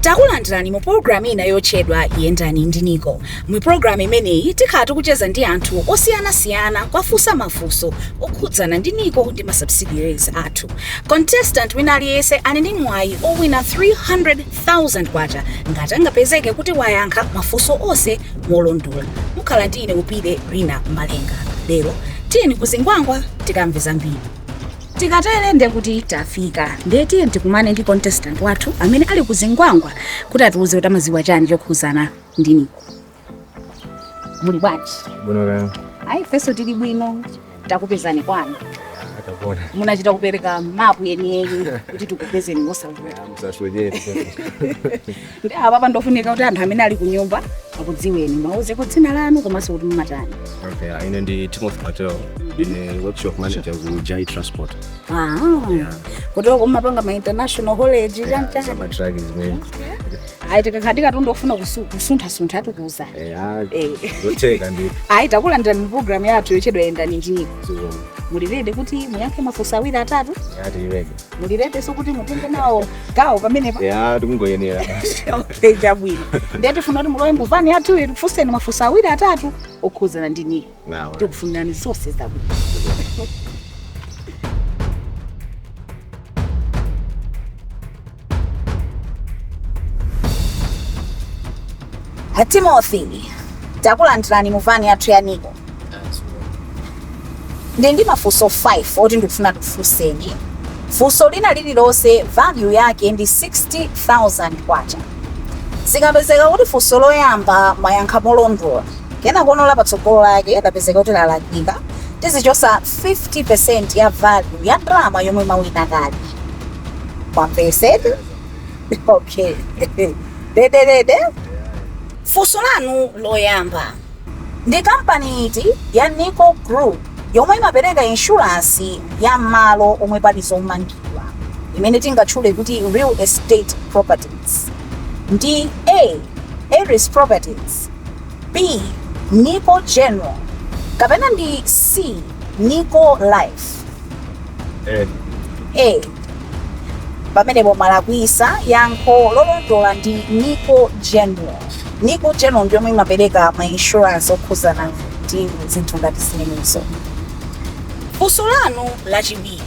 takulandirani mu pologalamu ina yotchedwa yendani ndi niko mu pologalamu imeneyi tikhala tikucheza ndi anthu osiyanasiyana kwafunsa mafunso okhudzana ndi niko ndi ma subsidiaries athu contestant wina aliyense ali ndi mwayi owina 300 000 kwacha ngati angapezeke kuti wayankha mafunso onse molondola mukhala ndi ine upire rina malenga lero tiyeni kuzingwangwa tikamve zambiri tikatere ndiye kuti tafika ndiye tiyeni tikumane ndi contestant wathu amene ali kuzingwangwa kuti atiuze kuti amaziwa chani chokhuzana ndi niko muli bwanji Bwino kaya. ayi ifenso tili bwino takupezani kwanu Akabona. munachita kupereka mapu yeniyeni kuti tikupezeni mosavuta Msaswejeri. ndi apa pangofunika kuti anthu amene ali kunyumba akudziweni muwauzeko dzina lanu komanso kuti mumatani Okay, uh, ine ndi Timothy Patel. Ine workshop manager ku Jai Transport. Ah, kuti mumapanga ma international haulage chanichani Sama truck is me. ayi tikakhala tikufuna kusu- kusunthasuntha tikuwuzani eya Eh. zotheka ndi ayi takulandirani mu programu yathu yotchedwa yendani ndi niko zikomo muli ready kuti muyankhe mafunso awiri atatu eya tiyileke muli readynso kuti mutenge nawo gawo pamenepa eya tikungoyenera okay chabwino ndiye tifuna kuti mulowe mu vani yathuyi tikufunseni mafunso awiri atatu okhudzana ndi niko tikufunirani zonse zabwino A timothy takulandirani mu vani yathu ya niko ndili ndi mafunso 5 oti ndikufuna ndikufunseni funso lina lililonse value yake ndi 60000 kwacha zikapezeka kuti funso loyamba mwayankha molondola Kenakono la patsogolo lake lapezeka kuti lalakwika, tizichosa 50% ya value ya ndalama yomwe mawina kale. Mwamvesetsa? Okay. Ready ready. Funso lanu loyamba. Ndi kampani iti ya Nico Group yomwe imapereka insurance ya malo omwe pali zomangidwa imene tingatchule kuti real estate properties? Ndi A. Eris Properties B Niko general kapena ndi C Niko life? A. A. Pamenepo mwalakwisa, yankho lolondola ndi Niko general. Niko general ndi yomwe imapereka ma insurance okhuzana ndi zinthu ngati zimenezo. Funso lanu lachiwiri.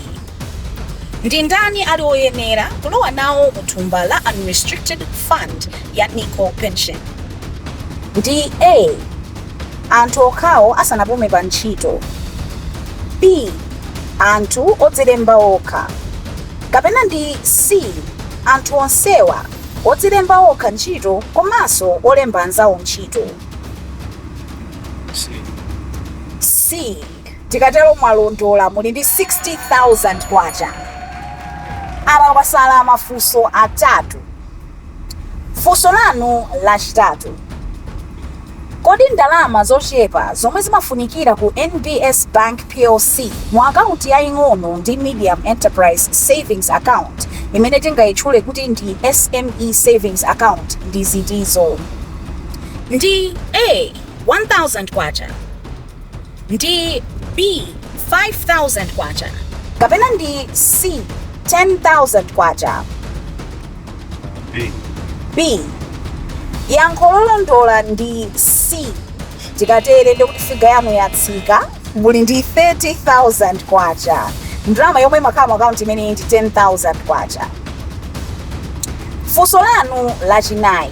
Ndi ndani ali oyenera kulowa nawo mu thumba la unrestricted fund ya NICO Pension? Ndi A Anthu okhawo asanapume pa ntchito B Anthu odzilemba okha Kapena ndi C Anthu onsewa, odzilemba okha ntchito komanso olemba anzawo ntchito? C. Tikatero mwalondola muli ndi K60,000. Apa pasala mafunso atatu. Funso lanu lachitatu, Kodi ndalama zochepa zomwe zimafunikira ku NBS Bank Plc mu akaunti yaing'ono ndi Medium Enterprise Savings Account, imene tingaitchule kuti ndi SME Savings Account, ndi zitizo? Ndi A, K1000, ndi B 5000 kwacha kapena ndi C 10000 kwacha? B. Yankho lolondola ndi C. Tikatere ndekuti figa yanu yatsika muli ndi 30,000 kwacha. Ndalama yomwe imakhala mu akaunti imeneyi ndi 10,000 kwacha. funso lanu lachinayi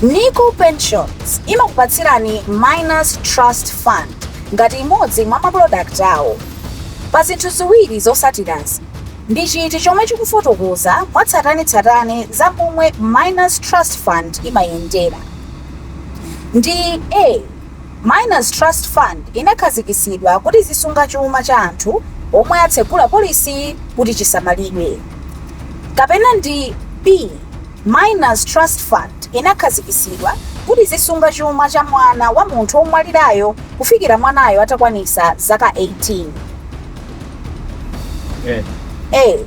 nico pensions imakupatsirani minors trust fund ngati imodzi mwa mapulodakiti awo pa zinthu ziwiri zosatirazi ndi chiti chomwe chikufotokoza mwatsatanetsatane za momwe minors trust fund imayendera ndi a Minors Trust Fund inakhazikitsidwa kuti izisunga chuma cha anthu omwe atsegula polise kuti chisamalidwe. Kapena ndi B. Minors Trust Fund inakhazikitsidwa kuti izisunga chuma cha mwana wa munthu omwalirayo kufikira mwanayo atakwanisa zaka 18. Eh. a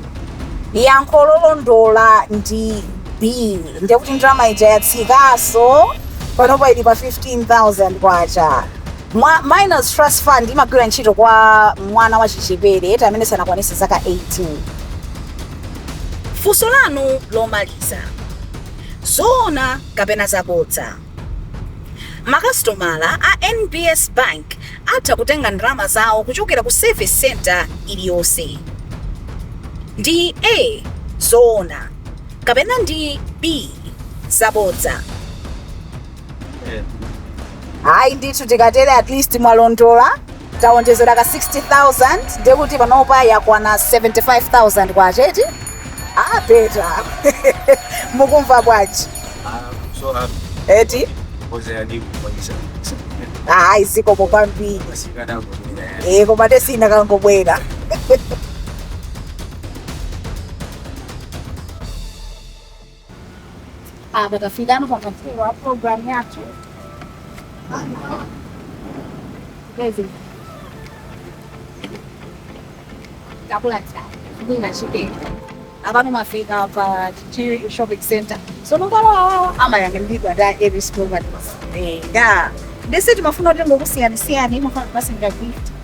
yankho lolondola ndi b ndiye kuti ndalama ija yatsikaso panopa ili pa 15000 kwacha minors trust fund imagwira ntchito kwa mwana wachichepere eti amene sanakwanise zaka 18 funso lanu lomaliza zoona kapena zabodza Makasitomala a NBS Bank atha kutenga ndalama zawo kuchokera ku Service Centre iliyonse. Ndi A zoona kapena ndi B zabodza? A. Ndithu tikatere at least mwalondola. Taonjezera ka K60,000 ndiye kuti panopa yakwana K75,000 eti? Ah Peter mukumva bwanji? I'm so happy. Eti? Because I did for this. Ah, zikomo kwambiri. Masikana kwa mwenye. Eh, koma tesina kangobwera. apa tafikano pamapeto a program yathu Bezi. Kabula chai. Bina shike. Abantu mafika pa Chichiri Shopping Center. So nongalo awawa ama yangembiga da every school but. Eh, da. Ndese timafuna kuti ngokusiyanisiyani mafuna basi ngakuita.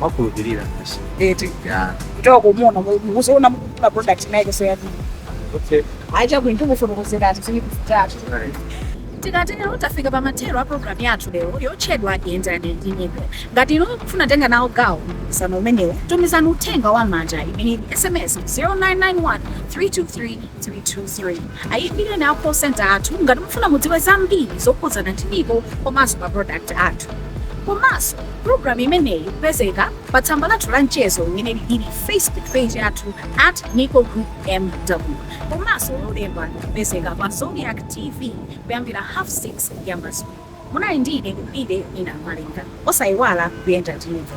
Mwakhulupirira basi. Eti. Ya. Kutoka kumuona muziona mukagula product imene yake so eti. Okay. Ayi chabwino ndikufotokozereni zinthu zimene kuchitatu. Alright. tikatero tafika pa mathero a programu yathu lero yotchedwa yendani ndi NICO ngati inu mukufuna kutenga nawo gawo mpikisano umenewu tumizani uthenga wa manja imene ili sms 0991 323 323 ayimbireni a call center athu ngati mukufuna mudziwe zambiri zokhudzana ndi NICO komanso ma product athu komanso Program imeneyi ikupezeka pa tsamba lathu la mchezo limene lili Facebook page yathu at NICO Group MW komanso lolemba ikupezeka pa Zodiak TV kuyambira half 6 ya madzulo. Munali ndi ine Lubide Mina Malenga. Osaiwala kuyenda ndi NICO.